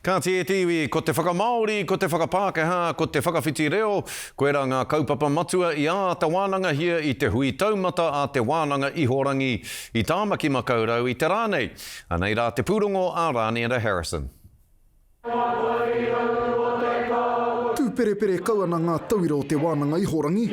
Kāti e te iwi, ko te whakamāori, ko te whakapākehā, ko te whakawhiti reo, koirā ngā kaupapa matua i āta wānangahia i te hui taumata a Te Wānanga Ihorangi i Tāmaki Makaurau i te rā nei. Anei rā te pūrongo a Rāniera Harrison. Tūperepere kau ana ngā tauira o Te Wānanga Ihorangi.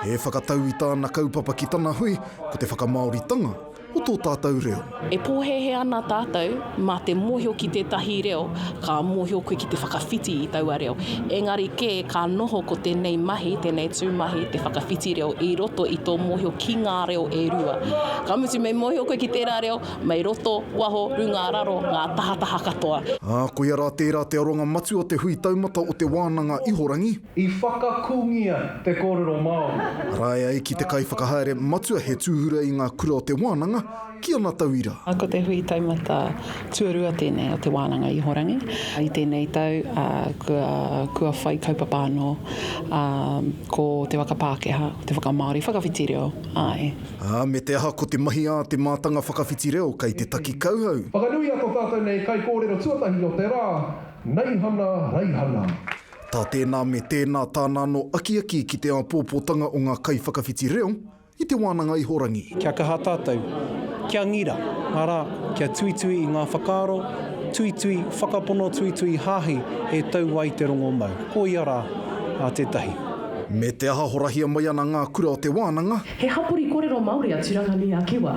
He whakatau i tāna kaupapa ki tana hui, ko te whakamāoritanga. o tō tātou reo. E pōhēhē ana tātou mā te mōhio ki tētahi reo, ka mōhio koe ki te whakawhiti i taua reo. Engari kē, ka noho ko tēnei mahi, tēnei tū mahi, te whakawhiti reo i roto i tō mōhio ki ngā reo e rua. Ka mutu, me mōhio koe ki tērā reo, mei roto, waho, runga, raro, ngā tahataha katoa. Ā, koia rā tērā te aronga matua o te Hui Taumata o Te Wānanga Ihorangi. I whakakungia te kōrero Māori. Ārae ai ki te kaiwhakahaere matua he tūhura i ngā kura o te wānanga ki ana tauira. Ko te hui taumata tuarua tēnei o Te Wānanga Ihorangi i tēnei tau, ā, kua, kua whai kaupapa anō, ā, ko te waka Pākehā, ko te whakamāori, whakawhiti reo, āe. Ā, me te aha ko te mahi ā te mātanga whakawhiti reo kei te taki kauhau. Whakanuia tō tātou nei kaikōrero tuatahi o te rā, Neihana Reihana. Tā tēnā me tēnā tāna anō akiaki ki te āpōpōtanga o ngā kaiwhakawhiti reo i te wānanga ihorangi. Kia kaha tātou, kia ngira, arā, kia tuitui i ngā whakaaro, tuitui, whakapono, tuitui, hāhi e tau ai te rongomau. Koia rā a tētahi. Me te aha horahia mai ana ngā kura o te wānanga. He hapori korero Māori a Turanga Nui a Kiwa.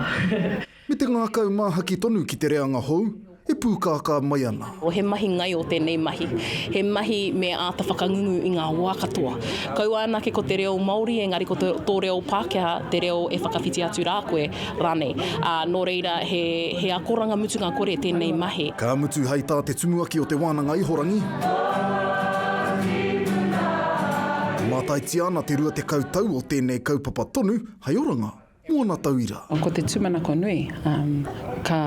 Me te ngākau māhaki tonu ki te reanga hou e pūkākā mai ana. He mahi ngaio tēnei mahi. He mahi me āta whakangungu i ngā wā katoa. Kaua anake ko te reo Māori engari ko tō reo Pākehā te reo e whakawhiti atu rā koe rānei. Ā, nō reira he akoranga mutunga kore tēnei mahi. Ka mutu hei tā te Tumuaki o Te Wānanga Ihorangi, Mātaitia ana te rua tekau tau o tēnei kaupapa tonu hei oranga. ōna tauira. Ko te tūmanako nui, ka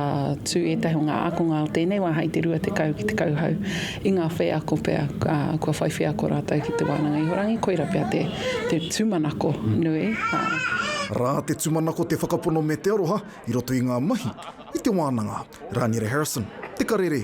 tū ētahi o ngā ākonga o tēnei wā hei te rua tekau ki te kauhau i ngā wheako pea kua whai wheako rātou ki te wānanga ihorangi, koira pea te tūmanako nui. Rā te tūmanako te whakapono me te aroha i roto i ngā mahi i te wānanga. Rāniere Harrison, Te Karere.